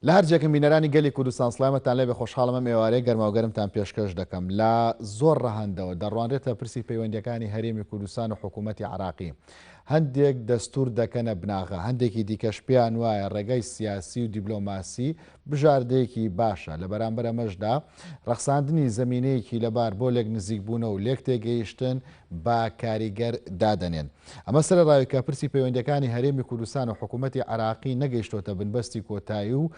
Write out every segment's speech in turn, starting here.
لە هەرجێکم بینەرانی گەلی کوردستان سلامەتان لێ بە خۆشحاڵمە ئێوارەی گەرماوگەرمتان پێشکەش دەکەم لە زۆر ڕەهندەوە دەڕوانرێتە پرسی پەیوەندەکانی هەرێمی کوردستان و حکوومەتتی عراقی هەندێک دەستور دەکەنە بناغە هەندێکی دیکەش پێیان وایە ڕێگای سیاسی و دیبلۆماسی بژاردەیەکی باشە، لە بەرامبەر ئەمەشدا ڕەخساندنی زەمینەیەکی لەبار بۆ لێکنزیکبوونە و لێکتێگەیشتن بە کاریگەر دادەنێن. ئەمە سەرەڕای کە پرسی پەیوەندیەکانی هەرێمی کوردستان و حکوومەتی عێراقی نەگەیشتۆتە بنبەستی کۆتایی و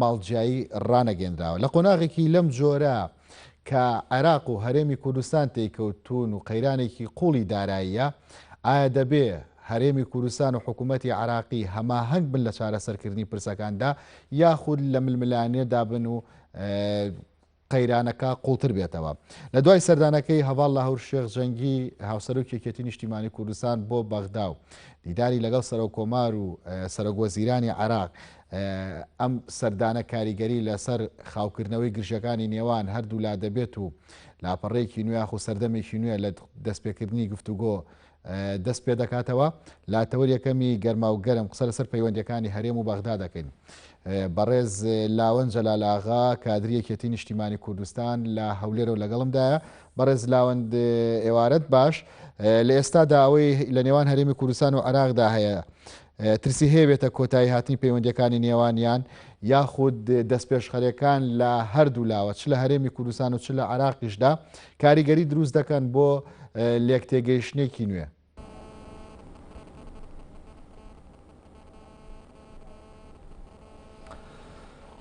ماڵجیایی ڕانەگەێنراوە. لە قۆناغێکی لەم جۆرە، کە عێراق و هەرێمی کوردستان تێیکەوتوون و قەیرانێکی قوڵی داراییە، ئایا دەبێ هەرێمی کوردستان و حکوومەتی عێراقی هەماهەنگ بن لە چارەسەرکردنی پرسەکاندا یاخود لە ململانێدا بن و قەیرانەکە قوڵتر بێتەوە لە دوای سەردانەکەی هەواڵ لە هەور شێخ جەنگی هاوسەرۆکی یەکێتی نیشتیمانی کوردستان بۆ بەغدا و دیداری لەگەڵ سەرۆک کۆمار و سەرۆک وەزیرانی عێراق ئەم سەردانە کاریگەری لەسەر خاوکردنەوەی گرژەکانی نێوان هەردوولا دەبێت و لاپەڕەیەکی نوێ خو سەردەمێکی نوێ لە دەستپێکردنی گفتوگۆ دەست پێ دەکاتەوە لا تەوەر یەکەمی گەرما و گەرم قسە لەسەر پەیوەندەکانی هەرێم و بەغدا دەکەین بەڕێز لاوەن جەلالاغا کادریەکێتی نیشتیمانی کوردستان لە هەولێرەوە لەگەڵمدایە بەڕێز لاوەند ئێوارەت باش لە ئێستادا ئەوەی لە نێوان هەرێمی کوردستان و عراقدا هەیە ترسی هەیە بێتە کۆتایی هاتنی پەیوەندیەکانی نێوانیان یاخود دەستپێشخەرەکان لە هەردوو لاوە چ لە هەرێمی کوردستان و چ لە عراقیشدا کاریگەری دروست دەکەن بۆ لێک تێگەیشتێکی نوێ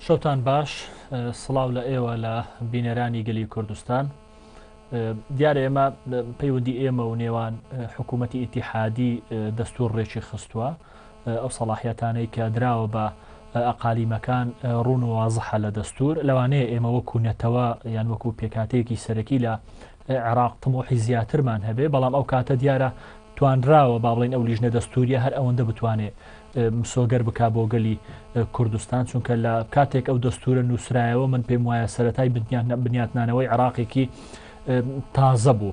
شەوتان باش سڵاو لە ئێوە لە بینەرانی گەلی کوردستان دیارە ئێمە پەیوەندی ئێمە و نێوان حکوومەتتی ئیتیحادی دەستور ڕێکی خستووە ئەو سەڵاحەتانەی کە دراوە بە ئەقالیمەکان ڕون و وازحە لە دەستور لەوانەیە ئێمە وەکو نەتەوە یان وەکو پێکاتەیەکی سەرەکی لە عێراق تمۆحی زیاترمان هەبێ بەڵام ئەو کاتە دیارە توانراوە با بڵێین ئەو لیژنە دەستووریە هەر ئەوەندە بتوانێ مسۆگەر بکا بۆ گەلی کوردستان چونکە لە کاتێک ئەو دەستورە نووسرایەوە من پێم وایە سەتای بنیاتنانەوەی عراقێکی تازە بوو.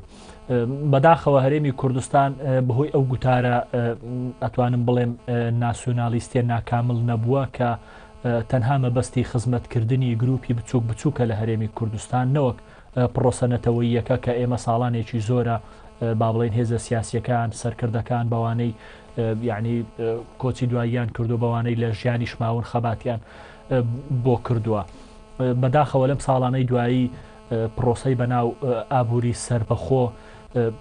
بەداخەوە هەرێمی کوردستان بەهۆی ئەو گوتارە ئەتوانم بڵێم ناسیۆنالیستە ناکامل نەبووە کە تەنها مەبەستی خزمەتکردنی گروپی بچووک بچووکە لە هەرێمی کوردستان نەوەک پڕۆسە نەتەوەییەکە کە ئێمە ساڵانێکی زۆرە با بڵێن هێزە سیاسیەکان سەرکردەکان بەوانەی یعنی کۆچی دواییان کردو بەوانەی لە ژیانیش ماون خەباتیان بۆ کردووە بەداخەوە لەم ساڵانەی دوایی پرۆسی بەناو ئابووری سربەخۆ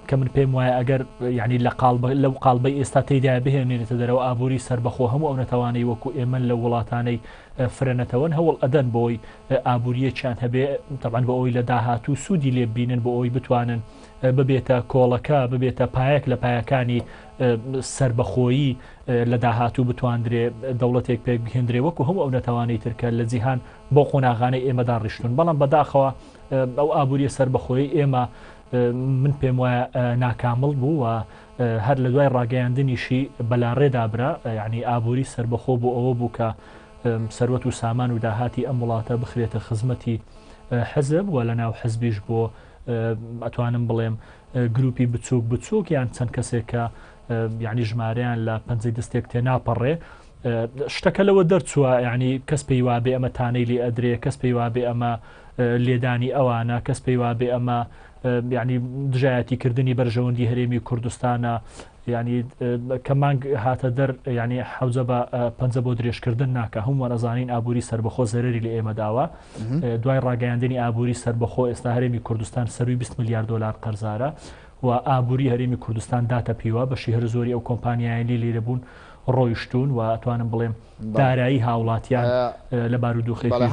کە من پێم وایە ئەگەر ینی لە قال لەو قالبەی ئێستا تێدا بهێنێتە دەرەوە ئابووری سربەخۆ هەموو ئەو نەتەوانەی وەکو ئێمە لە وڵاتانەی فرەنەتەوەن هەوڵ ئەدەن بۆی ئابوورییەکیان هەبێ، تەبعەن بۆ ئەوەی لە داهاتوو سوودی لێ ببینن، بۆ ئەوەی بتوانن ببێتە کۆڵەکە، ببێتە پایەک لە پایەکانی سەربەخۆیی لە داهاتوو بتواندرێ دەوڵەتێک پێک بهێندرێ وەکو هەموو ئەو نەتەوانەی ترکە لە جیهان بۆ قۆناغانەی ئێمەدا ڕیشتون بەڵام بەداخەوە ئەو ئابووریە سەربەخۆی ئێمە من پێم وایە ناکامل بوو و هەر لە دوای ڕاگەیاندنیشی بەلاڕێدابرا ینی ئابووری سربەخۆ بۆ ئەوە بوو کە سەروەت و سامان و داهاتی ئەم وڵاتە بخرێتە خزمەتی حزب و لە ناو حزبیش بۆ ئەتوانم بڵێم گروپی بچووک بچووک یان چەند کەسێکە یعنی ژمارەیان لە پەنجەی دەستێک تێ ناپەڕێ شتەکە لەوە دەرچووە ینی کەس پێی وابێ ئەمە تانەی لێ ئەدرێ کەس پێی وابێ ئەمە لێدانی ئەوانە کەس پێی وابێ ئەمە ینی دژایەتیکردنی بەرژەوەندی هەرێمی کوردستانە یانی کە مانگ هاتە دەر یانی حەوجە بە پەنجە بۆ درێژکردن ناکە هەمووان ئەزانین ئابووری سربەخۆ زەرری لە ئێمە داوە دوای ڕاگەیاندنی ئابووری سربەخۆ ئێستا هەرێمی کوردستان سەروی 20 میلیارد دلار قەرزارە و ئابووری هەرێمی کوردستان داتە پیوە بەشی هەر زۆری ئەو کۆمپانیایلی لێرە بوون ڕۆیشتون و توانم بڵێم دارایی هاوڵاتیان لە بارودۆخێکی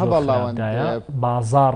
بازار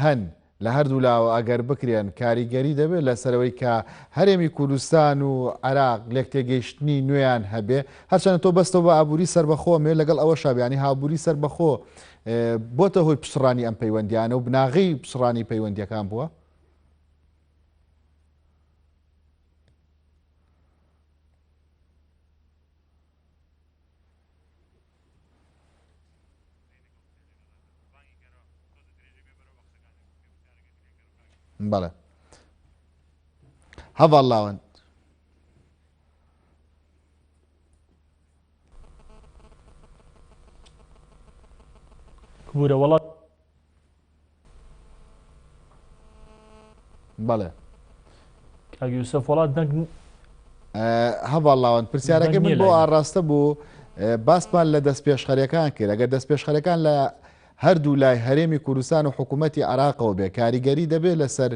هەن لە هەردوو لاوە ئەگەر بکرێن کاریگەری دەبێت لەسەرەوەی کە هەرێمی کوردستان و عراق لێک تێگەیشتنی نوێیان هەبێ هەرچەند تۆ بەستەوە بە ئابووری سربەخۆمێ لەگەڵ ئەوە شابیانی هابووری سربەخۆ بۆتە هۆی پسڕانی ئەم پەیوەندیانە و بناغی پسڕانی پەیوەندیەکان بووە بەڵێ هەڤاڵ لاوەند بورە وڵات بەڵێ یوسف وڵات دەنگ هەواڵاوان پرسیارەکە من بۆ ئاڕاستە بوو باسمان لە دەست پێشخەرەکان کرد ئەگەر دەست پێشخەرەکان لە هەردوو لای هەرێمی کوردستان و حکوومەتتی عراقەوە بێ کاریگەری دەبێت لەسەر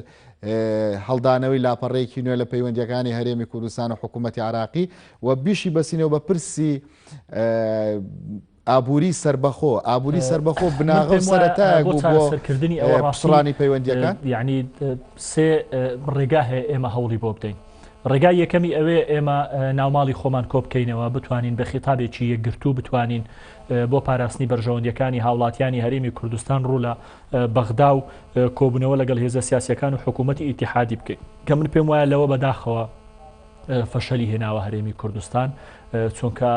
هەڵدانەوەی لاپەڕێکی نوێ لە پەیوەندیەکانی هەرێمی کوردستان و حکوومەتتی عراقی و بیشی بەسینەوە بە پرسی ئابووری سەربەخۆ، ئابووری سەربەخۆ بناغە و سەرەتایەک بوو بۆ پچڕانی پەیوەندییەکان. یەعنی سێ ڕێگا هەیە ئێمە هەوڵی بۆ بدەین. ڕێگای یەکەمی ئەوەیە ئێمە ناوماڵی خۆمان کۆ بکەینەوە، بتوانین بە خیتابێکی یەکگرتوو بتوانین بۆ پاراستنی بەرژەوەندییەکانی هاوڵاتیانی هەرێمی کوردستان ڕوو لە بەغدا و کۆبوونەوە لەگەڵ هێزە سیاسییەکان و حکوومەتی ئیتیحادی بکەین. کە من پێم وایە لەوە بەداخەوە، فەشەلی هێناوە هەرێمی کوردستان چونکە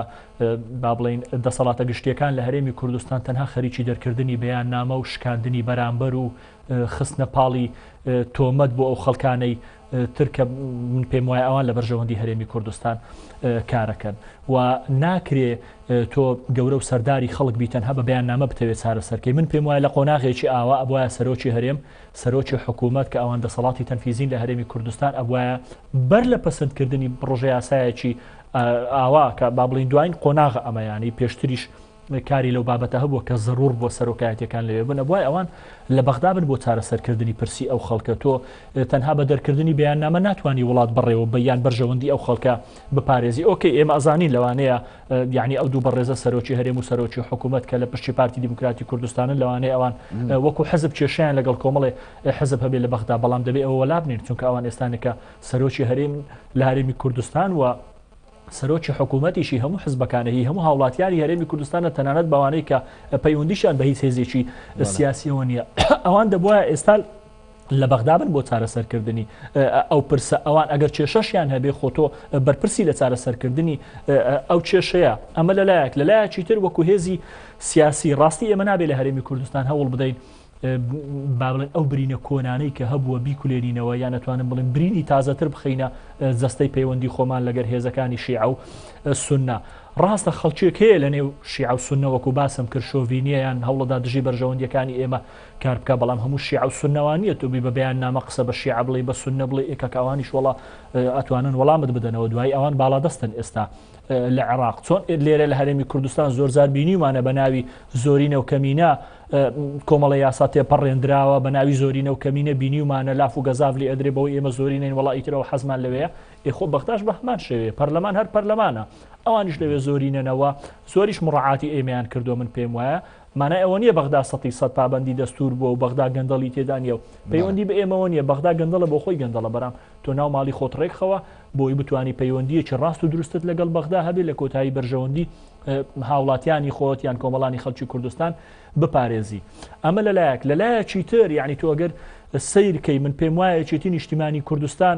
با بڵین دەسەڵاتە گشتیەکان لە هەرێمی کوردستان تەنها خەریکی دەرکردنی بەیان نامە و شکاندنی بەرامبەر و خستنە پاڵی تۆمەت بۆ ئەو خەڵکانەی ترکە من پێم وایە ئەوان لە بەرژەوەندی هەرێمی کوردستان کارەکەن و ناکرێ تۆ گەورە و سەرداری خەڵک بیتەنها بە بەیان نامە بتەوێت چارەسەرکەی من پێم وایە لە قۆناغێکی ئاوا ئەبواە سەرۆکی هەرێم سەرۆکی حکوومەت کە ئەوان دەسەڵاتی تەنفیزین لە هەرێمی کوردستان ئەبواە بەر لە پەسەندکردنی بڕژە یاسایەکی ئاوا کە با بڵین دوایین قۆناغ ئەمەیانی پێشتریش کاری لەو بابەتە هەبووە کە زەرور بۆ سەرۆکایەتەکان لەوێ بن ئەبوای ئەوان لە بەغدا بن بۆ چارەسەرکردنی پرسی ئەو خەڵکە تۆ تەنها بە دەرکردنی بەیان نامە ناتوانانی وڵات بڕێوە بە یان بەرژەوەندی ئەو خەڵکە بپارێزی ئۆکەی ئێمە ئەزانین لەوانەیە یانی ئەو دوو بەڕێزە سەرۆکی هەرێم و سەرۆکی حکوومەت کە لە پشتی پارتی دیموکراتی کوردستانن لەوانەیە ئەوان وەکو حزب کێشیان لەگەڵ کۆمەڵێ حزب هەبێ لە بەغدا بەڵام دەبێ ئەوە لابنین چونکە ئەوان ئێستانەکە سەرۆکی هەرێم لە هەرێمی کوردستان و سەرۆکی حکوومەتیشی هەموو حزبەکانەی هەموو هاوڵاتیانی هەرێمی کوردستانە تەنانەت بەوانەی کە پەیوەندیشان بە هیچ هێزێکی سیاسیەوە نییە ئەوان دەبواە ئێستا لە بەغدا بن بۆ چارەسەرکردنی ئەو پرسە، ئەوان ئەگەر کێشەشیان هەبێ خۆ تۆ بەرپرسی لە چارەسەرکردنی ئەو کێشەیە، ئەمە لە لایەک، لە لایەکی تر وەکو هێزی سیاسی ڕاستی ئێمە نابێ لە هەرێمی کوردستان هەوڵ بدەین با بڵێن ئەو برینە کۆنانەی کە هەبووە بیکولێنینەوە یان ئەتوانم بڵێم برینی تازەتر بخینە جەستەی پەیوەندی خۆمان لەگەر هێزەکانی شیعە و سنە ڕاستە خەڵکێک هەیە لە نێو شیعە و سنە وەکو باسم کرد شۆڤینیەیان هەوڵەدا دژی بەرژەوەندیەکانی ئێمە کار بکە بەڵام هەموو شیعە و سوننە وا نییە تۆ بی بە بەیاننامە قسە بە شیعە بڵێی بە سوننە بڵێی ئێ کاکە ئەوانیش وەڵا ئەتوانن وەڵامت بدەنەوە دوایی ئەوان باڵادەستن ئێستا لە عێراق چۆن لێرە لە هەرێمی کوردستان زۆرزار بینیمانە بە ناوی زۆرینە و کەمینە کۆمەڵە یاسا تێپەڕێنراوە بە ناوی زۆرینە و کەمینە بینیمانە لاف و گەزاف لێ ئەدرێ بەوەی ئێمە زۆرینەین وڵی ترەوە حەزمان لەوەیە ئێخۆ بەختاش بە هەمان شێوێ پەرلەمان هەر پەرلەمانە ئەوانیش لەوێ زۆرینەنەوە زۆریش مڕعاتی ئێمەیان کردو من پێم وایە مانای ئەوە نییە بەغدا سەتی سەد پابەندی دەستوور بووە و بەغدا گەندەڵی تێدا نییە و پەیوەندی بە ئێمەوە نییە، بەغدا گەندەڵە بۆ خۆی گەندەڵە برام، تۆ ناو ماڵی خۆت ڕێکخەوە بۆی بتوانی پەیوەندییەکی ڕاست و دروستت لەگەڵ بەغدا هەبێت لە کۆتایی بەرژەوەندی هاوڵاتیانی خۆت یان کۆمەڵانی خەڵکی کوردستان بپارێزی ئەمە لەلایەک لەلایەکی تر یعنی تۆگەر سیر کەی من پێم وایە چێتی نیشتیمانی کوردستان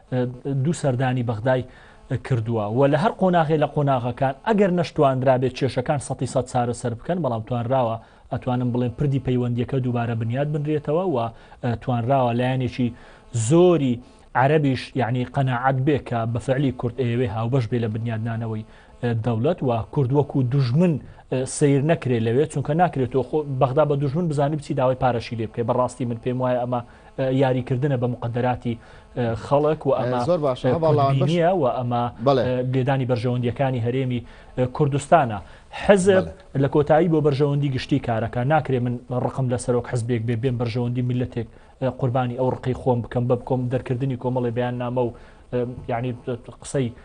دوو سەردانی بەغدای کردووە و لە هەر قۆناغێ لە قۆناغەکان ئەگەر نەشتواندرابێت کێشەکان سەتی سەد چارەسەر بکەن بەڵام توانراوە ئەتوانم بڵێن پردی پەیوەندیەکە دووبارە بنیاد بنرێتەوە و توانراوە لایەنێکی زۆری عربیش یعنی قەنەعات بێ کە بەفعلی کورد ئەیەوێ هاوبەش بێ لە بنیادنانەوەی دەولەت و کورد وەکو دژمن سیر نەکرێت لەوێ چونکە ناکرێتەوە خۆ بەغدا بە دژمن بزانانی بچی داوای پارەشی لێ بکەی بەڕاستی من پێم وایە ئەمە یاری کردنە بە مقدەراتی خەڵک و ئەمە زۆر باشە و ئەمە لێدانی بەرژەوەندیەکانی هەرێمی کوردستانە حزب لە کۆتایی بۆ بەرژەوەندی گشتی کارەکە ناکرێ من ڕقم لە سەرۆک حزبێک بێ بێن بەرژەوەندی میلەتێک قوربانی ئەو ڕقی خۆم بکەم بە بکۆم دەرکردنی کۆمەڵی بیان نامە و یعنی قسەی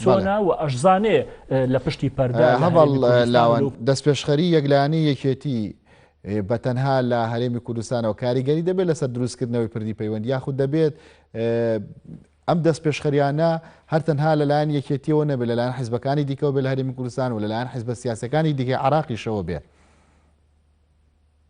چۆنە و ئەشزانێ لە پشتی پەردە هەڤاڵ لاوان دەستپێشخەری یەکلانی یەکێتی بە تەنها لە هەرێمی کوردستانەوە کاریگەری دەبێت لەسەر دروستکردنەوەی پردی پەیوەند یاخود دەبێت ئەم دەست پێشخەریانە هەر تەنها لەلایەن یەکێتیەوە نەبێ لەلایەن حیزبەکانی دیکەەوە بێ لە هەرمی کوردستان و لەلایەن حیزبە سیاسەکانی دیکە عراقیشەوە بێ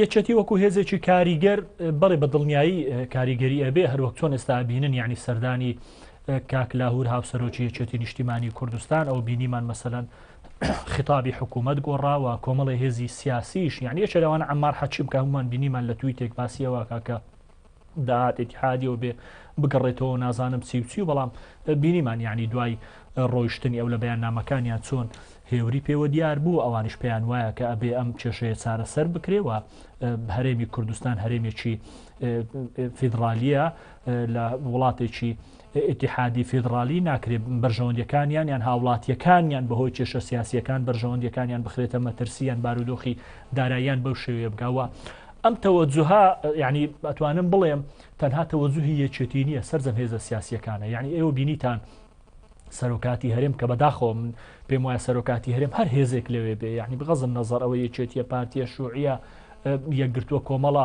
یەکێتی وەکو هێزێکی کاریگەر بەڵێ بە دڵنیایی کاریگەری ئەبێ هەروەک چۆن ئێستا بینن ینی سەردانی کاک لاهور هاوسەرۆکی یەکێتی نیشتیمانی کوردستان ئەو بینیمان مەسەەن خطابی حکوومەت گۆڕاوە کۆمەڵی هێزی سیاسیش یعنی یەکێراوان ئەمار حەچی بکە هەمومان بینیمان لە توی تێک باسیەوە کاکە داهات ئیتیحادیەوە بێ بگەڕێتەوەو نازانم چی و چی و بەڵام بینیمان یعنی دوای ڕۆیشتنی ئەو لە بەیاننامەکانیان چۆن هێوری پێوە دیار بوو ئەوانش پێیان وایە کە ئەبێ ئەم کێشەیە چارەسەر بکرێەوە هەرێمی کوردستان هەرێمێکی فیدراالیە لە وڵاتێکی ئیتیحادی فیدڕالی ناکرێت بەرژەوەندیەکانیان یان هاوڵاتیەکانیان بە هۆی کێشە سیاسیەکان بەرژەوەندیەکانیان بخرێتە مەترسی یان بارودۆخی داراییان بەو شێوێ بکە وە ئەم تەوەجوها ینی ئەتوانم بڵێم تەنها تەوەجوهی یەکێتی نییە سەرجەم هێزە سیاسیەکانە یعنی ئێوە بینیتان سەرۆکاتی هەرێم کە بەداخۆ من پێم وایە سەرۆکاتی هەرێم هەر هێزێک لەوێ بێ یعنی بغەزم نەزەر ئەوە یەکێتیە پارتیە شوعە یەکگرتووە کۆمەڵە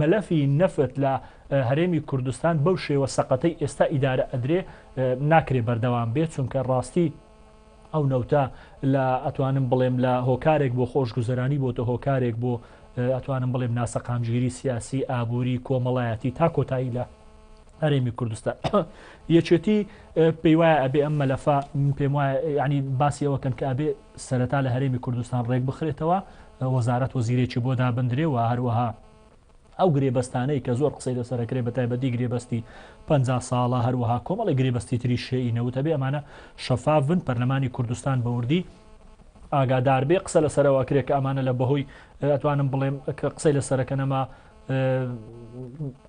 مەلەفی نەفت لە هەرێمی کوردستان بەو شێوە سەقەتەی ئێستا ئیدارە ئەدرێ ناکرێ بەردەوام بێ چونکە ڕاستی ئەو نەوتە لە ئەتوانم بڵێم لە هۆکارێک بۆ خۆشگوزەرانی بۆتە هۆکارێک بۆ ئەتوانم بڵێم ناسەقامگیری سیاسی ئابووری کۆمەڵایەتی تا کۆتایی لە هەرێمی کوردستان یەکێتی پێی وایە ئەبێ ئەم مەلەفە پێم وایە ینی باسیەوەکەن کە ئەبێ سەرەتا لە هەرێمی کوردستان ڕێکبخرێتەوە، وەزارەت وەزیرێکی بۆ دابندرێ و هەروەها ئەو گرێبەستانەی کە زۆر قسەی لەسەر ئەکرێ بە تایبەتی گرێبەستی پەنجا ساڵە، هەروەها کۆمەڵێک گرێبەستی تری شێی نەوت هەبێ ئەمانە شەفاف بن، پەرلەمانی کوردستان بە وردی ئاگادار بێ، قسە لەسەرەوە ئەکرێ کە ئەمانە لە بەهۆی ئەتوانم بڵێم کە قسەی لەسەر ئەکەن ئەمە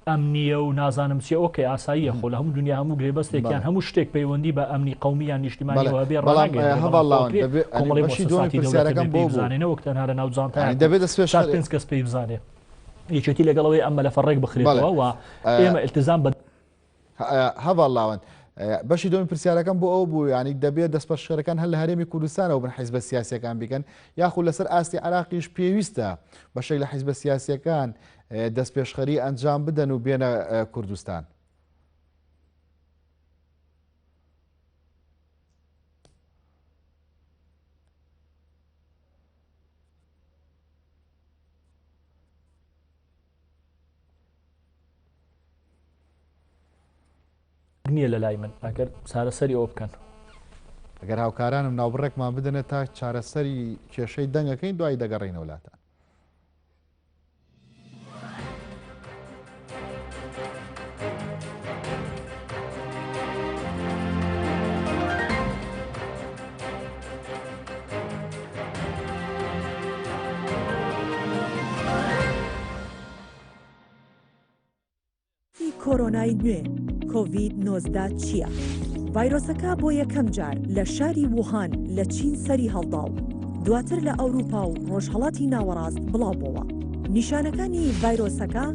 ئەمنیە و نازانم چی ئۆکە ئاساییە خۆ لە هەموو دنیا هەموو گرێبەستێکیان هەموو شتێک پەیوەندی بە ئەمنی قومیان نیشتیمانەوە بێ ڕڵانگەێنەوەک تەنها لە ناو جانتا دەبێت پێش پێنج کەس پێی بزانێ یەکێتی لەگەڵەوەی ئەمە لە فەڕێک بخرێتەوە ئێمە التزام بە هەڤاڵ لاوەند، بەشی دووەمی پرسیارەکەم بۆ ئەو بوو یانی دەبێت دەستپەشخەرەکان هەر لە هەرێمی کوردستانەوە بن حیزبە سیاسیەکان بیکەن یاخود لەسەر ئاستی عراقیش پێویستە بەشێک لە حیزبە سیاسیەکان دەستپێشخەری ئەنجام بدەن و بێنە کوردستان. نیە لەلای من ئەگەر چارەسەری ئەوە بکەن. ئەگەر هاوکارانم ناوبڕێکمان بدەنە تا چارەسەری کێشەی دەنگەکەین دوای دەگەڕینەوە لاتان ی کۆرۆنای نوێ، کۆڤید نۆزدە، چییە؟ ڤایرۆسەکە بۆ یەکەم جار لە شاری ووهان لە چین سەری هەڵدا و دواتر لە ئەوروپا و ڕۆژهەڵاتی ناوەڕاست بڵاو بۆوە. نیشانەکانی ڤایرۆسەکە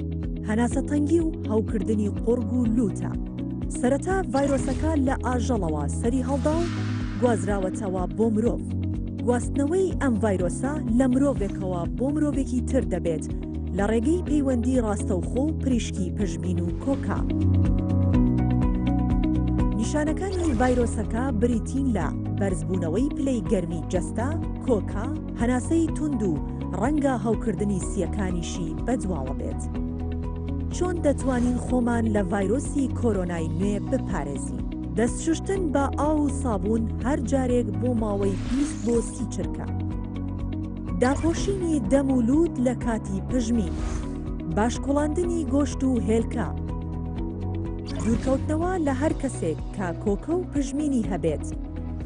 هەناسەتەنگی و هەوکردنی قوڕگ و لووتە. سەرەتا ڤایرۆسەکە لە ئاژەڵەوە سەری هەڵدا و گوازراوەتەوە بۆ مرۆڤ. گواستنەوەی ئەم ڤایرۆسە لە مرۆڤێکەوە بۆ مرۆڤێکی تر دەبێت لە ڕێگەی پەیوەندی ڕاستەوخۆ و پریشکی پشبین و کۆکە. نیشانەکانی ڤایرۆسەکە بریتین لە بەرزبوونەوەی پلەی گەرمی جەستە، کۆکە، هەناسەی توند و ڕەنگە هەوکردنی سییەکانیشی بەدواوە بێت. چۆن دەتوانین خۆمان لە ڤایرۆسی کۆرۆنای نوێ بپارێزین؟ دەست شوشتن بە ئاو و سابوون هەر جارێک بۆ ماوەی بیست بۆ سی چرکە. داپۆشینی دەم و لووت لە کاتی پژمین. باش کوڵاندنی گۆشت و هێلکە. دوورکەوتنەوە لە هەر کەسێک کە کۆکە و پژمینی هەبێت.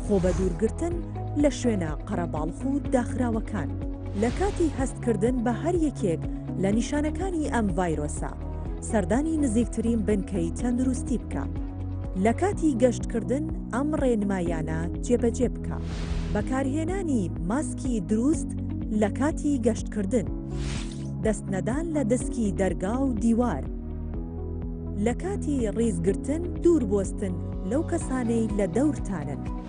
خۆبەدوورگرتن لە شوێنە قەرەباڵخ و داخراوەکان. لە کاتی هەستکردن بە هەر یەکێک لە نیشانەکانی ئەم ڤایرۆسە، سەردانی نزیکترین بنکەی تەندروستی بکە. لە کاتی گەشتکردن ئەم ڕێنمایانە جێبەجێ بکە. بەکارهێنانی ماسکی دروست لە کاتی گەشتکردن. دەست نەدان لە دەسکی دەرگا و دیوار. لە کاتی ڕیزگرتن دوور بۆستن لەو کەسانەی لە دەورتانن.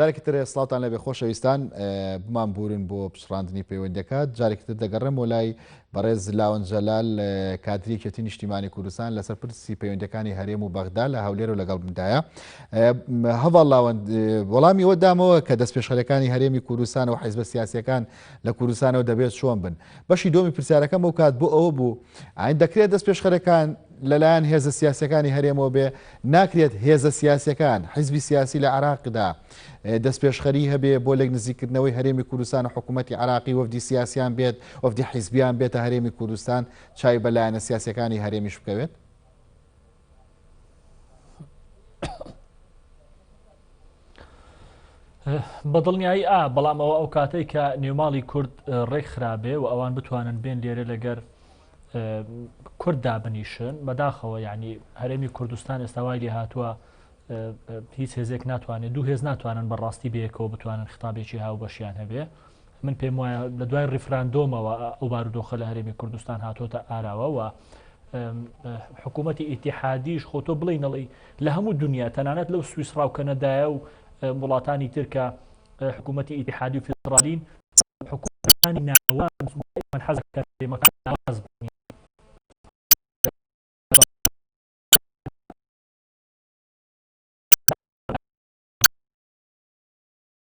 جارێکی تر سڵاوتان لێبێ خۆشەویستان بمان بورن بۆ پچڕاندنی پەیوەندەکە جارێکی تر دەگەڕێمەوە لای بەڕێز لاون جەلال کادری کێتی نیشتیمانی کوردستان لەسەر پرسی پەیوەندەکانی هەرێم و بەغدا لە هەولێر و لەگەڵ بندایە هەواڵ لاوەند وەڵامی ئەوە دامەوە کە دەست پێشخەرەکانی هەرێمی کوردستان و حیزبە سیاسەکان لە کوردستانەوە دەبێت چۆن بن بەشی دۆمی پرسیارەکەم ئەو کات بۆ ئەوە بوو ئاین دەکرێت دەست پێشخەرەکان لەلایەن هێزە سیاسەکانی هەرێمەوە بێ ناکرێت هێزە سیاسیەکان، حیزبی سیاسی لە عێراقدا دەستپێشخەری هەبێ بۆ لێک نزیکردنەوەی هەرێمی کوردستان و حکوومەتی عێراقی وەفدی سیاسیان بێت، وەفدی حیزبیان بێتە هەرێمی کوردستان چاوی بە لایەنە سیاسیەکانی هەرێمیش بکەوێت؟ بە دڵنیایی ئا بەڵام ئەوە ئەو کاتێک کە نێوماڵی کورد ڕێک خراابێ و ئەوان بتوانن بێن لێرە لەگەر کورد دابنیشن بەداخەوە ینی هەرێمی کوردستان ئێستاوای لێ هاتووە هیچ هێزێک ناتوانێت دوو هێز ناتوانن بەڕاستی بەیەکەوە بتوانن خطابێکی هاو بەشیان هەبێ من پێم وایە لە دوای ڕیفراندۆمەوە ئەو بارودۆخە لە هەرێمی کوردستان هاتۆتە ئاراوە و حکوومەتتی ئیتیحادیش خۆ تۆ بڵێ نەڵی لە هەموو دنیا تەنانەت لەو سویسڕاو کەنەدایە و وڵاتانی ترکە حکوومەتتی ئیتیحادی و فیدراالین حکوومەتانی ناوە حەزەکە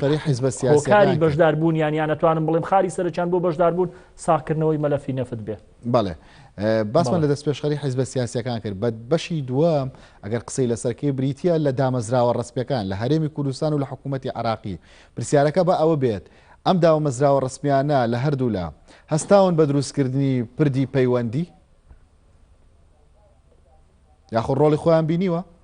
هۆکاری بەشدار بوونیان یان ئەتوانم بڵێم خاری سەرەکیان بۆ بەشدار بوون ساغکردنەوەی مەلەفی نەفت بێ بەڵێ باسمان لە دەست پێشخەری حیزبە سیاسەکان کرد بە بەشی دووەم ئەگەر قسەی لەسەرکەی بریتە لە دامەزراوە ڕستپەکان لە هەرێمی کوردستان و لە حکوومەتتی عراقی پرسیارەکە بە ئەوە بێت ئەم داومەزراوە ڕسمیانە لە هەردوولا هەستاون بە دروستکردنی پردی پەیوەندی یاخۆ ڕۆڵی خۆیان بینیوە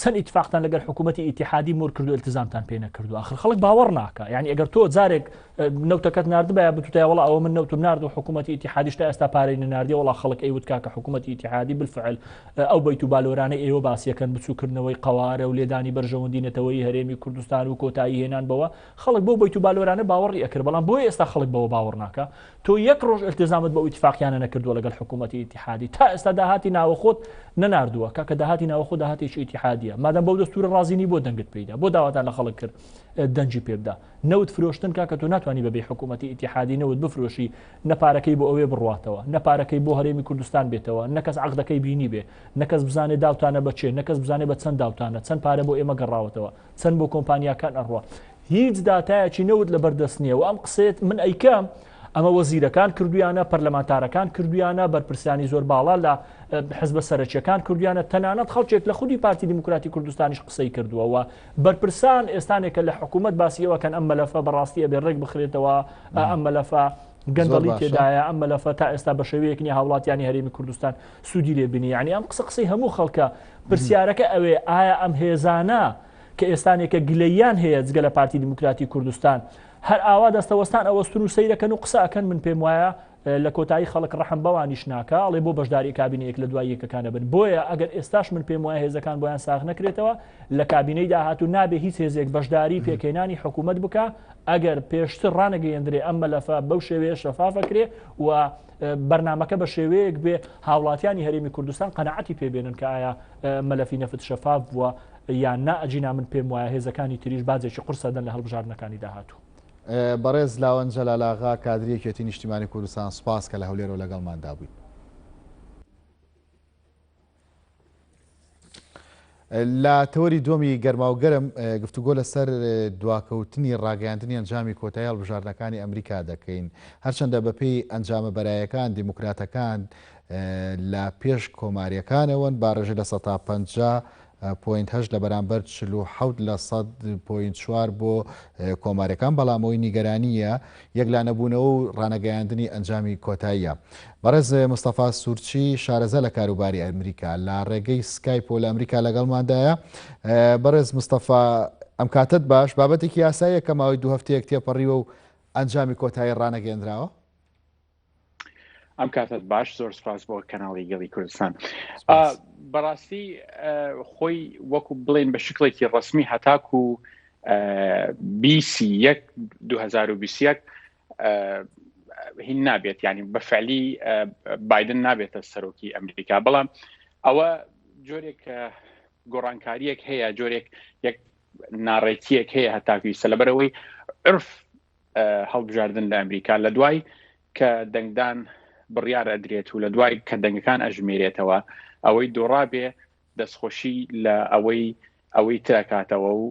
چەند ئیتفاقتان لەگەر حکوومەتی ئیتحادی مور کردو التزامتان پێ نەکردو آخر خەڵک باوەڕ ناکە یعنی ئەگەر تۆ جارێک نەوتەکەت نردبە بتوتای وڵا ئەوە من نەوتم نرد و حکوومەتی ئیتحادیش تا ئێستا پارەی نردی وڵا خەڵک ئەیوت کاکە حکوومەتی ئیتحادی بالفعل ئەو بیت و بالۆرانەی ئێوە باسیەکەن بچووکردنەوەی قوارە و لێدانی بەرژەوەندی نەتەوەی هەرێمی کوردستان و کۆتایی هێنان بەوە خەڵک بۆ بیت و بالۆرانە باوەڕی ئەکرد بەڵام بۆی ئێستا خەڵک بەوە باوەڕ ناکە تۆ یەک ڕۆژ التزامت بە ئیتفاقیانە نەکردووە لەگەڵ حکوومەتی ئیتحادی تا ئێستا داهاتی ناوەخۆت نەناردووە کە کە داهاتی ناوەخۆ داهاتێکی ئیتحادیە مادەم بەو دەستورە ڕازینی بۆ دەنگت پیدا بۆ داواتان لە خەڵک کرد دەنجی پێبدا نەوت فرۆشتن کا کە تۆ ناتوانانی بەبێ حکوومەتی ئیتحادی نەوت بفرۆشی نەپارەکەی بۆ ئەوێ بڕاتەوە نەپارەکەی بۆ هەرێمی کوردستان بێتەوە نەکەس عقدەکەی بینی بێ نەکەس بزانێ داوتانە بەچێ نەکەس بزانێ بە چەند داوتانە چەند پارە بۆ ئێمە گەڕاوەتەوە چەند بۆ کۆمپانیاکان ئەڕوە هیچ داتایەکی نەوت لەبەر دەست نیە و ئەم قسەیەت من ئەیکەم ئەمە وەزیرەکان کردویانە پەرلەمانتارەکان کردویانە بەرپرسانی زۆر باڵا لە حزبە سەرەکیەکان کردویانە تەنانەت خەڵکێک لە خودی پارتی دیموکراتی کوردستانیش قسەی کردووەوە بەرپرسان ئێستانێکە لە حکوومەت باسیەوەکەن ئەم مەلەفە بەڕاستی ئەبێ ڕێک بخرێتەوە ئەم مەلەفە گەندەڵی تێدایە ئەم مەلەفە تا ئێستا بە شێوەیەک نیە هاوڵاتیانی هەرێمی کوردستان سوودی لێ بینی ینی ئەم قسە قسەی هەموو خەڵکە پرسیارەکە ئەوێ ئایا ئەم هێزانە کە ئێستانێکە گلەییان هەیە جگە لە پارتی دیموکراتی کوردستان هەر ئاوا دەستەوەستان ئەوەستن و سەیرەکەن و قسە ئەکەن من پێم وایە لە کۆتایی خەڵک ڕەحم بەوانیش ناکە ئەڵێ بۆ بەشداری کابینە یەک لە دوای یەکەکانە بن بۆیە ئەگەر ئێستاش من پێم وایە هێزەکان بۆیان ساغ نەکرێتەوە لە کابینەی داهاتوو نابێ هیچ هێزێک بەشداری پێکهێنانی حکوومەت بکە ئەگەر پێشتر ڕانەگەیەندرێ ئەم مەلەفە بەو شێوەیە شەفافەکرێ و بەرنمەکە بە شێوەیەک بێ هاوڵاتیانی هەرێمی کوردستان قەنەعەتی پێبێنن کە ئایا مەلەفی نەفت شەفاف بووە یان نا ئەگینا من پێم وایە هێزەکانی تریش باجێکی قورس ئەدەن لە هەڵبژاردنەکانی داهاتوو. بەڕێز لاوەند جەلال ئاغا کادری یەکێتی نیشتیمانی کوردستان سوپاس کە لە هەولێرەوە لەگەڵماندا بوویت. لە تەوەری دووەمی گەرماوگەرم گفتوگۆ لەسەر دواکەوتنی ڕاگەیاندنی ئەنجامی کۆتاییال بژاردنەکانی ئەمریکا دەکەین هەرچەندە بەپێی ئەنجامە بەرایەکان دیموکراتەکان لە پێش کۆماریەکانەوەن باڕێژە لە سەتا پ پۆینت هەشت لە بەرامبەر چل و حەوت لە سەد پۆینت چوار بۆ کۆمارەکان بەڵام ئەوەی نیگەرانیە یەکلانەبوونەوە و ڕانەگەیاندنی ئەنجامی کۆتاییە بەڕێز مستەفا سوورچی شارەزا لە کاروباری ئەمریکا لە ڕێگەی سکایپ و لە ئەمریکا لەگەڵماندایە بەڕێز مستەفا ئەم کاتت باش بابەتێکی یاساییە کە ماوەی دوو هەفتەیەک تێپەڕیوە و ئەنجامی کۆتایی ڕانەگەێنراوە ئەم کاتت باش زۆر سپاس بۆ کەناڵی گەڵی کوردستان بەڕاستی خۆی وەکو بڵێن بە شکڵێکی ڕسمی هەتاکو و بیسی یەک 2021 هین نابێت ینی بەفعلی بادن نابێتە سەرۆکی ئەمریکا بەڵام ئەوە جۆرێک گۆڕانکاریەک هەیە جۆرێک یەک ناڕێکیەک هەیە هەتاکوی سەلبەرەوەی عرف هەڵبژاردن لە ئەمریکا لە دوای کە دەنگدان بڕیار ئەدرێت و لە دوای کە دەنگەکان ئەژمێرێتەوە ئەوەی دۆڕابێ دەستخۆشی لە ئەوەی ئەوەی ترکاتەوە و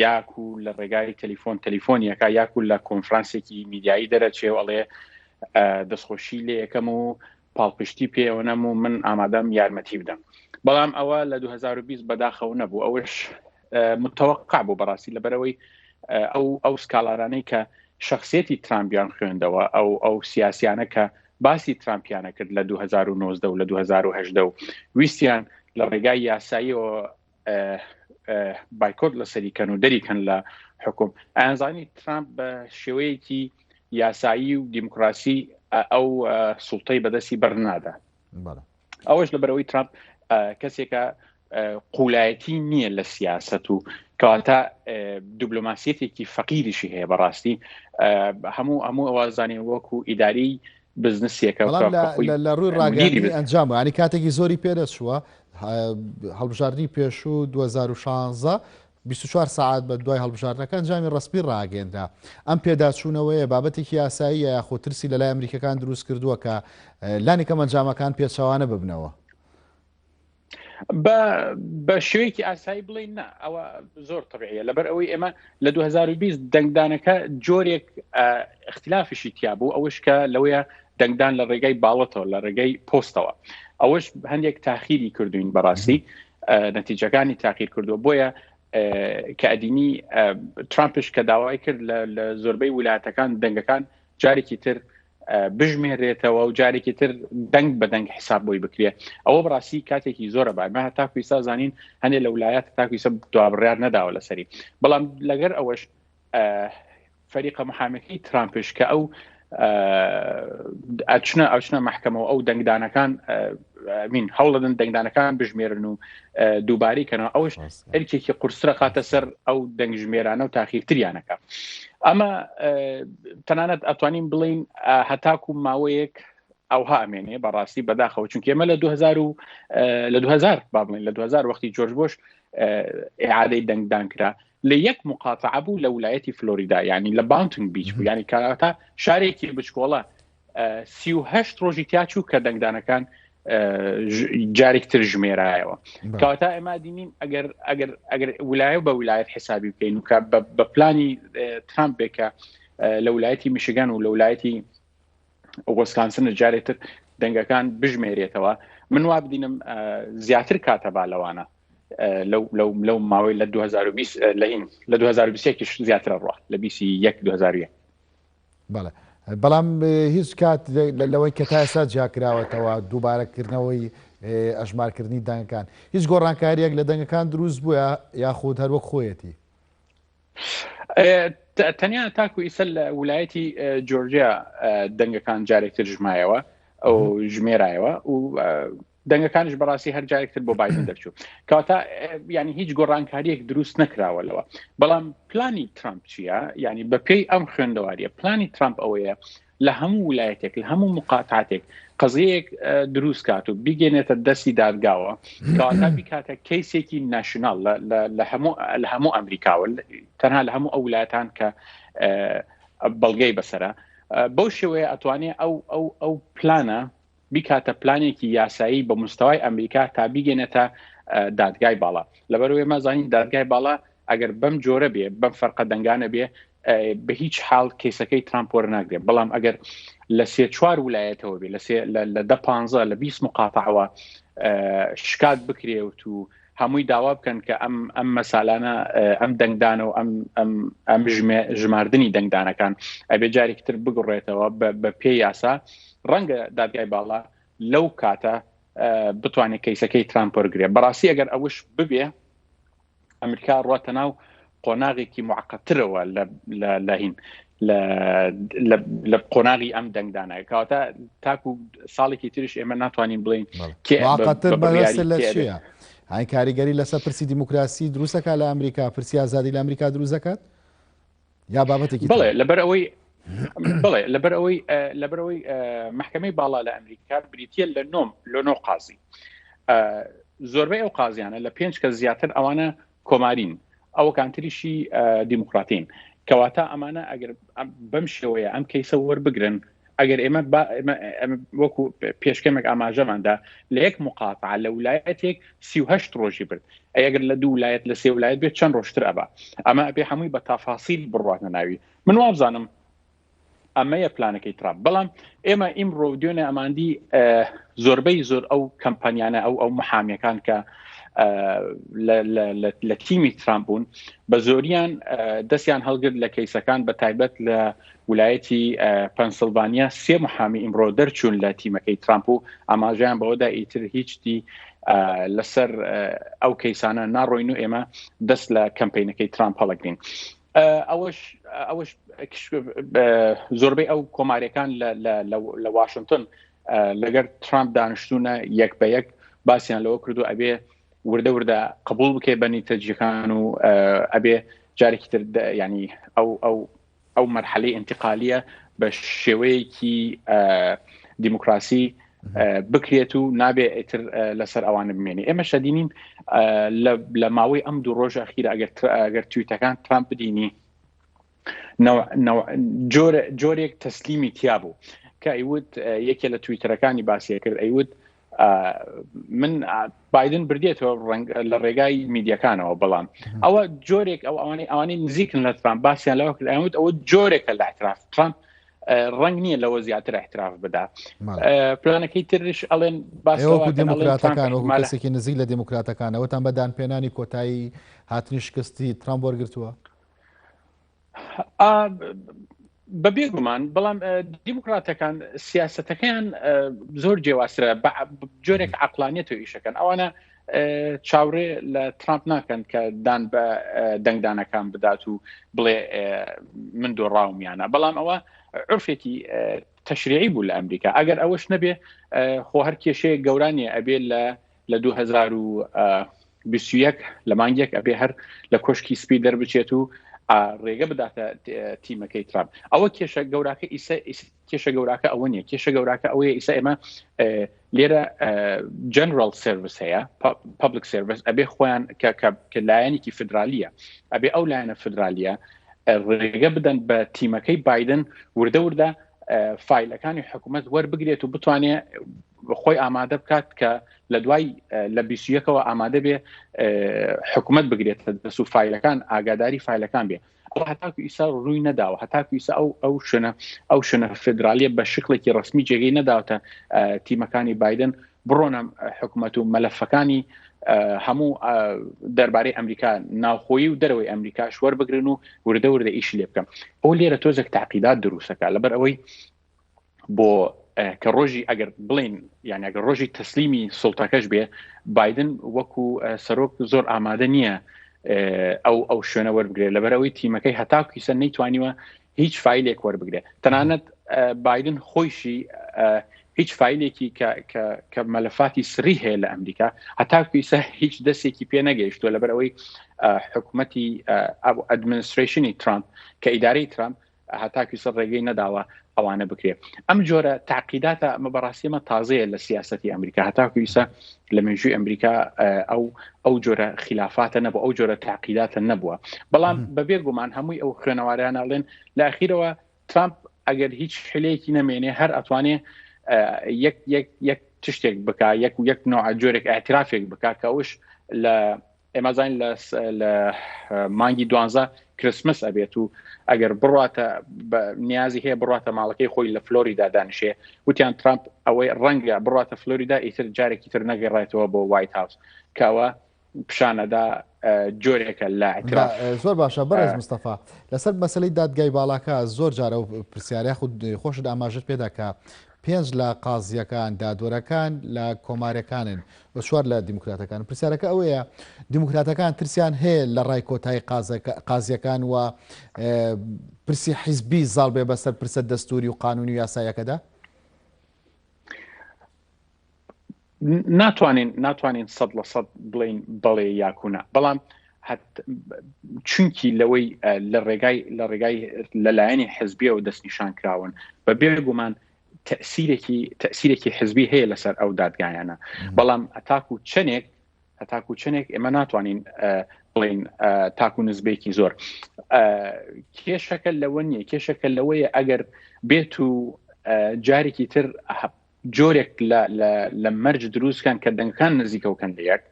یاکو لە ڕێگای تەلیفۆن تەلیفۆنیەکە یاکو لە کۆنفرانسێکی میدیایی دەرەچێ و ئەڵێ دەستخۆشی لێ یەکەم و پاڵپشتی پێیەوە نەم و من ئامادەم یارمەتی بدەم بەڵام ئەوە لە 2020 بەداخەوە نەبوو ئەوش متەوەقع بوو بەڕاستی لەبەرەوەی ئەو ئەو سکاڵانانەی کە شخصیەتی ترامپیان خوێندەوە ئەو ئەو سیاسیانە کە باسی ترامپیانە کرد لە 2009 و لە 2010 و ویستیان لە ڕێگای یاساییەوە بایکۆت لەسەری کەن و دەری کەن لە حکوم ئەزانی ترامپ بە شێوەیەکی یاسایی و دیموکراسی ئەو سوڵتەی بەدەستی بەرنادا ئەوەش لە بەرەوەی ترامپ کەسێکە قولایەتی نییە لە سیاست و کەواتە دیبلۆماسیەتێکی فەقیریشی هەیە بەڕاستی هەموو هەموو ئەوازانانی وەکو ئیداری بزنسیەکە لە ڕووی ڕاگەری ئەنجام ینی کاتێکی زۆری پێدەچووە هەڵبژاردنی پێشوو 2016 24 ساعت بە دوای هەڵبژاردنەکە ئەنجامی ڕسپی ڕاگەێنرا ئەم پێداچوونەوەیە بابەتێکی یاسایی یاخۆ ترسی لەلای ئەمریکەکان دروست کردووە کە لانی کەم ئەنجامەکان پێچەوانە ببنەوە بە شوێکی ئاسایی بڵین نا ئەوە زۆر طبعە لەبەر ئەوەی ئێمە لە 2020 دەنگدانەکە جۆرێک ئختلافیشی تیا بوو ئەوش کە لەوەیە دەنگدان لە ڕێگای باڵەتەوە لە ڕێگەی پۆستەوە ئەوەش هەندێک تاخیری کردوین بەڕاستی نەتیجەکانی تاقیر کردووە بۆیە کە ئەدینی ترامپش کە داوای کرد لە زۆربەی ویلایەتەکان دەنگەکان جارێکی تر بژمێرێتەوە و جارێکی تر دەنگ بە دەنگ حساب بۆی بکرێت ئەوە بڕاستی کاتێکی زۆرە بارمە هەتا کویسا زانین هەندێک لە ولایەت تاکویسە دوابڕیار نەداوە لەسەری بەڵام لەگەر ئەوەش فەریقە محامەکەی ترامپش کە ئەو ئەچنە ئەچنە محکەمەوە ئەو دەنگدانەکان مین هەوڵدن دەنگدانەکان بژمێرن و دووباری کەنەوە ئەوش ئەرکێکی قورسرە خاتە سەر ئەو دەنگژمێرانە و تاخیرتریانەکە ئەمە تەنانەت ئەتوانین بڵین هەتاکو ماوەیەک ئەوها ئەمێنێ بەڕاستی بەداخەوە چونکە ئێمە لە 2000 و لە 2000 بابڵین لە 2000 وەختی جۆرج بۆش ئعادەی دەنگدان کرا لە یەک مقاتعە بوو لە ولایەتی فلۆریدا یعنی لە باونتنگ بیچ بوو ینی کاتا شارێکی بچکۆڵە سیه ڕۆژی تیاچوو کە دەنگدانەکان جارێکتر ژمێرایەوە کاتا ئەما دینین ئەگەر ئەگەر ئەگەر ولایە بە ولایەت حسابی بکەین و بە پلانی ترامپ بێکە لە ولایەتی میشگان و لە ولایەتی وسکانسنە جارێ تر دەنگەکان بژمێرێتەوە من وا بدینم زیاتر کاتە با لەوانە لەو ماوەی لە 2020 لەین لە 2020 زیاترە ڕوە لە 21 2001 بەڵێ بەڵام هیچ کات لەوەی کە تا ئێستا جیاکراوەتەوە دووبارەکردنەوەی ئەژمارکردنی دەنگەکان هیچ گۆڕانکاریەک لە دەنگەکان دروست بووە یاخود هەروەک خۆیەتی تەنیا تاکو ئیسە لە ولایەتی جۆرجیا دەنگەکان جارێکتر ژمایەوە ئەو ژمێرایەوە و دەنگەکانش بەڕاستی هەر جارێکتر بۆ بادن دەرچوو کاتا ینی هیچ گۆڕانکاریەک دروست نەکراوە لەوە بەڵام پلانی ترامپ چییە ینی بەپێی ئەم خوێندەواریە پلانی ترامپ ئەوەیە لە هەموو ولایەتێک لە هەموو مقاتاتێک قەزەیەک دروست کات و بیگەێنێتە دەستی دادگاوە کاتا بیکاتە کەیسێکی ناشنال لە هەموو ئەمریکاوە تەنها لە هەموو ئەو ولاتان کە بەڵگەی بەسرە بەو شێوەیە ئەتوانێت ئەو ئەو ئەو پلانە بیکاتە پلانێکی یاسایی بە مستەوای ئەمریکا تا بیگەێنێتە دادگای باڵا لەبەروێ مەزانین دادگای باڵا ئەگەر بەم جۆرە بێ بەم فەرقە دەنگانە بێ بە هیچ حاڵ کەیسەکەی ترامپۆر ناگرێت بەڵام ئەگەر لە سێ چوار ولایەتەوە بێ لە لە دە پ لە 20 مقاتەوە شکات بکرێوت و هەمووی داوا بکەن کە ئەم ئەم مەسالانە ئەم دەنگدانە و ئەم ئەم ژماردنی دەنگدانەکان ئەبێ جارێکی تر بگڕێتەوە بە پێ یاسا ڕەنگە دادگای باڵا لەو کاتە بتوانێت کەیسەکەی ترامپۆرگرێ بەڕاستی ئەگەر ئەوش ببێ ئەمریکا ڕاتە ناو قۆناغێکی معقەترەوە لە هین لە قۆناغی ئەم دەنگدانە کەواتە تاکو ساڵێکی تریش ئێمە ناتوانین بڵین کێقەتر لە چیە؟ ئای کاریگەری لەسەر پرسی دیموکراسی دروستەکە لە ئەمریکا پرسی ئازادی لە ئەمریکا دروست دەکات یا بابەتێکی بڵێ لەبەر ئەوەی بڵێ لەبەر ئەوەی لەبەر ئەوەی محکمەی باڵا لە ئەمریکا بریتە لە نۆم لۆنۆ قازی زۆربەی ئەو قازیانە لە پێنج کە زیاتر ئەوانە کۆمارین ئەوکان تریشی دیموکراتین کەواتە ئەمانە ئەگەر بەم شێوەیە ئەم کەیسە وەربگرن ئەگەر ئێمە وەکو پێشکەمێک ئاماژەماندا لە یەک مقاف لە ولایەتێک سیه ڕۆژی برد ئەگەر لە دوو لایەت لە سێ ولایەت بێت چەند ڕۆشتر ئەبا ئەمە ئەبێ هەمووی بە تافاسیل بڕاتە ناوی من وابزانم ئەمەیە پلانەکەی ترامپ بەڵام ئێمە ئیمڕۆ دوێنێ ئەماندی زۆربەی زۆر ئەو کەمپانیانە ئەو ئەو محامیەکان کە لە تیمی ترامپ بوون بە زۆریان دەستیان هەڵگرت لە کەیسەکان بە تایبەت لە ولایەتی پەنسلڤانیا سێ محامی ئیمڕۆ دەرچوون لە تیمەکەی ترامپ و ئاماژیان بەوەدا ئیتر هیچتی لەسەر ئەو کەیسانە ناڕۆین و ئێمە دەست لە کەمپینەکەی ترامپ هەڵگرین ئەوەش ئەوەش زۆربەی ئەو کۆمارەکان لە واشنگتن لەگەر ترامپ دانیشتونە یەک بە یەک باسییان لەوە کردو ئەبێ وردە وردە قبول بکەێ بەنی تەجیەکان و ئەبێ جارێکی تر ینی ئەو ئەو ئەو مەرحەلی انتقالیە بە شێوەیەکی دیموکراسی بکرێت و نابێ ئیتر لەسەر ئەوانە بمێنێ ئێمە شەدینین لە ماوەی ئەم دوو ڕۆژە خیرە ئەگەر ئەگەر تویتەکان ترامپ بدینی جۆرێک تەسلیمی تیا بوو کە ئەیوت یەکێ لە تویتەرەکانی باسیە کرد ئەیوت من بادن بردێتەوە لە ڕێگای میدیەکانەوە بەڵام ئەوە جۆرێک ئەو ئەوانەی ئەوانەی نزیکن لە ترامپ باسییان لەوە کرد ئەوت ئەوە جۆرێکە لە اعتراف ترامپ ڕنگ نییە لەوە زیاتر احتراف بدا پلانەکەی ترش ئەڵێن باسەوە دموکراتەکان وەکو کەسێکی نزیک لە دموکراتەکانەوەتان بەدان پێنانی کۆتایی هاتنی شکستی ترام وەرگتووە بە بێگومان بەڵام دیموکراتەکان سیاستەکەیان زۆر جێواسرە جۆرێک عقلانیت و ئیشەکەن ئەوانە چاوڕێ لە ترامپ ناکەن کە دان بە دەنگدانەکان بدات و بڵێ من دۆڕاومیانە بەڵام ئەوە عرفێکی تەشریعی بوو لە ئەمریکا ئەگەر ئەوەش نەبێ خۆ هەر کێشەیە گەورانێ ئەبێ لە لە 2021 لە مانگێک ئەبێ هەر لە کۆشکی سپی دەربچێت و ڕێگە بداتە تیمەکەی ترامپ ئەوە کێشە گەوراکە ئیسە کێشە گەوراکە ئەوە نیە کێشە گەوراکە ئەوەیە ئیسا ئێمە لێرە جنرال سرویس هەیە پبلک سرویس ئەبێ خۆیان کە لایەنێکی فدرالیە ئەبێ ئەو لایەنە فدرالیە ڕێگە بدەن بە تیمەکەی بادن وردە وردە فیلەکانی حکوومەت وەربگرێت و بتوانێ خۆی ئامادە بکات کە لە دوای لە بیسیەکەەوە ئامادە بێ حکوومەت بگرێت دەسو فیلەکان ئاگاداری فیلەکان بێ بەڵام هەتاکو ئیسا ڕووی نەداوە هەتاکو ئیسا ئەو ئەو شوێنە ئەو شوێنە فدراالیە بە شکلێکی ڕسمی جێگەی نەداوتە تیمەکانی بادن بڕۆنە حکوومەت و مەلەفەکانی هەموو دەربارەی ئەمریکا ناوخۆی و دەرەوەی ئەمریکاش وەربگرن و وردە وردە ئیش لێ بکەم ئەو لێرە تۆزێک تاقیدات دروستەکە لەبەر ئەوەی بۆ کە ڕۆژی ئەگەر بڵین یان ئەگەر ڕۆژی تەسلیمی سڵتەکەش بێ بادن وەکو سەرۆک زۆر ئامادە نییە ئەو ئەو شوێنە وەربگرێت لەبەرەوەی تیمەکەی هەتاکیسە نەیتوانیوە هیچ فیلێک وەربگرێت تەنانەت بادن خۆیشی هیچ فیلێکی کە مەلەفاتی سری هەیە لە ئەمریکا هەتاکویسە هیچ دەستێکی پێ نەگەیشتووە لەبەرەوەی حکوومەتی ئەدمنستریشنی ترامپ کە ئیدارەی ترامپ هەتاکویسە ڕێگەی نەداوە ئەوانە بکرێت ئەم جۆرە تاقیداتە ئەمە بەڕاستیمە تازەیە لە سیاستی ئەمریکا هەتاکویسە لە مێژووی ئەمریکا ئەو ئەو جۆرە خلافاتە نەبوو ئەو جۆرە تاقیداتە نەبووە بەڵام بەبێ گومان هەمووی ئەو خوێنەوارانەڵێن لە ئەخیرەوە ترامپ ئەگەر هیچ حلەیەکی نەمێنێ هەر ئەتوانێ یەک یەک یەک تشتێک بک یەک یەک نوع جۆرێک ئاعترافێک بک کە ئەوش لە ئێمە زانین لە لە مانگی دوانزە کرسمس ئەبێت و ئەگەر بڕاتە نیازی هەیە بڕاتە ماڵەکەی خۆی لە فلۆریدا دانیشێ وتیان ترامپ ئەوەی ڕەنگە بڕاتە فلۆریدا ئیتر جارێکی تر نەگەڕێتەوە بۆ وایت هاوس کەەوە پیشانەدا جۆرێکە لە زۆر باشە بەڕێز مستەفا لەسەر مەسلی دادگای باڵاکە زۆر جارە و پرسیارە خود خۆشت ئاماژت پێداکە پێنج لە قازییەکان دادوەرەکان لە کۆمارەکانن و چوار لە دیموکراتەکان. پرسیارەکە ئەوەیە دیموکراتەکان ترسیان هەیە لە ڕای کۆتایی قازییەکان و پرسی حیزبی زاڵ بێ بەسەر پرسە دەستوری و قانونی و یاسایەکەدا؟ ناتوانین ناتوانین سەد لە سەد بڵین بەڵێ یاکونا بەڵام چونکی لەوەی لە ڕێگای لە ڕێگای لەلایەنی حزبیەوە دەستنیشان کراون بە بێگومان تەسیرێکی تەسیرێکی حزبی هەیە لەسەر ئەو دادگایانە بەڵام ئەتاکو چەندێک هەتاکو چەندێک ئێمە ناتوانین بڵین تاکو نزبێکی زۆر کێشەکە لەوە نییە کێشەکە لەوەیە ئەگەر بێت و جارێکی تر جۆرێک لە مەرج دروستکان کە دەنگەکان نزیکە و کەن لە یەک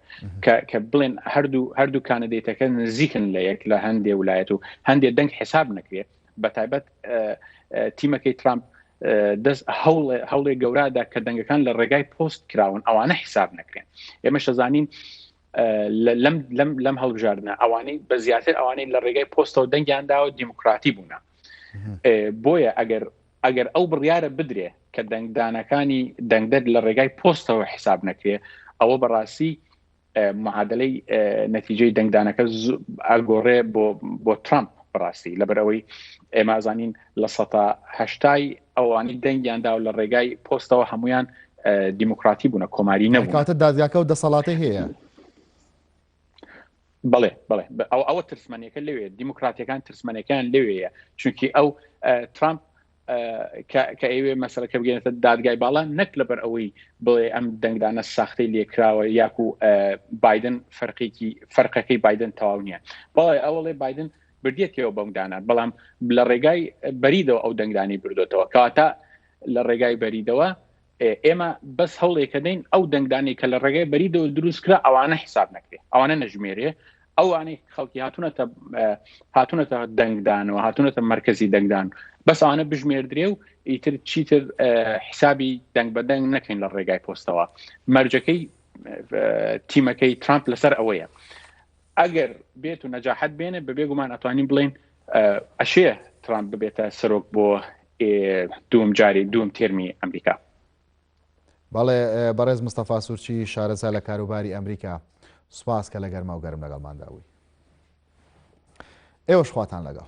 کە بڵێن هەردوو هەردوو کاندیتەکە نزیکن لە یەک لە هەندێ ولایەت و هەندێ دەنگ حساب نەکرێت بە تایبەت تیمەکەی ترامپ دەست هەوڵێ هەوڵێ گەورادا کە دەنگەکان لە ڕێگای پۆست کراون ئەوانە حساب نەکرێن ئێمە شەزانین لەم لەم لەم هەڵبژاردنە ئەوانەی بە زیاتر ئەوانەی لە ڕێگای پۆستەوە دەنگیان داوە دیموکراتی بوونە بۆیە ئەگەر ئەگەر ئەو بڕیارە بدرێ کە دەنگدانەکانی دەنگدەر لە ڕێگای پۆستەوە حیساب نەکرێ ئەوە بەڕاستی معادلەی نەتیجەی دەنگدانەکە ئەگۆڕێ بۆ بۆ ترامپ بڕاستی لەبەرەوەی ئێمازانین لە سەتا هەشتای ئەوانی دەنگیاندا و لە ڕێگای پۆستەوە هەمویان دیموکراتی بوونە کۆماری نەکاتە دادگاکە و دەسەڵاتی هەیە بڵێ بڵێ ئەو ئەوە ترسمەنەکە لەوێ دیموکراتەکان ترسمەنەکان لەوەیە چونکی ئەو ترامپ کە ئەوێ مەسلەکە بگەێنێتە دادگای باڵا نەک لەبەر ئەوەی بڵێ ئەم دەنگدانە ساختەی لێکراوە یاکو بادن فەرقێکی فەرقەکەی بادن تەواو نییە بەڵێ ئەوڵێ بادن بردێتەوە بەمدانە بەڵام لە ڕێگای بەریدەوە ئەو دەنگدانی بردوێتەوە کەواتە لە ڕێگای بەریدەوە ئێمە بەس هەوڵێکەدەین ئەو دەنگدانی کە لە ڕێگای بەری دەور دروست کرا ئەوانە حساب نەکرێ ئەوانە نەژمێرێ ئەوانەی خەڵکی هاتوونەتە هاتوونەتە دەنگدان و هاتوونەتە مرکزی دەنگدان بەس ئەوانە بژمێردرێ و ئیتر چیتر حسابی دەنگ بە دەنگ نەکەین لە ڕێگای پۆستەوە مەرجەکەی تیمەکەی ترامپ لەسەر ئەوەیە ئەگەر بێت و نەجاحەت بێنێ بەبێ گومان ئەتوانین بڵین ئەشێ ترامپ ببێتە سەرۆک بۆ دوم جاری دوم تێرمی ئەمریکا بەڵێ بەڕێز مستەفا سوورچی شارەزا لە کاروباری ئەمریکا سوپاس کە لە گەرما و گەرم لەگەڵماندا بووی ئێوەش خواتان لەگەڵ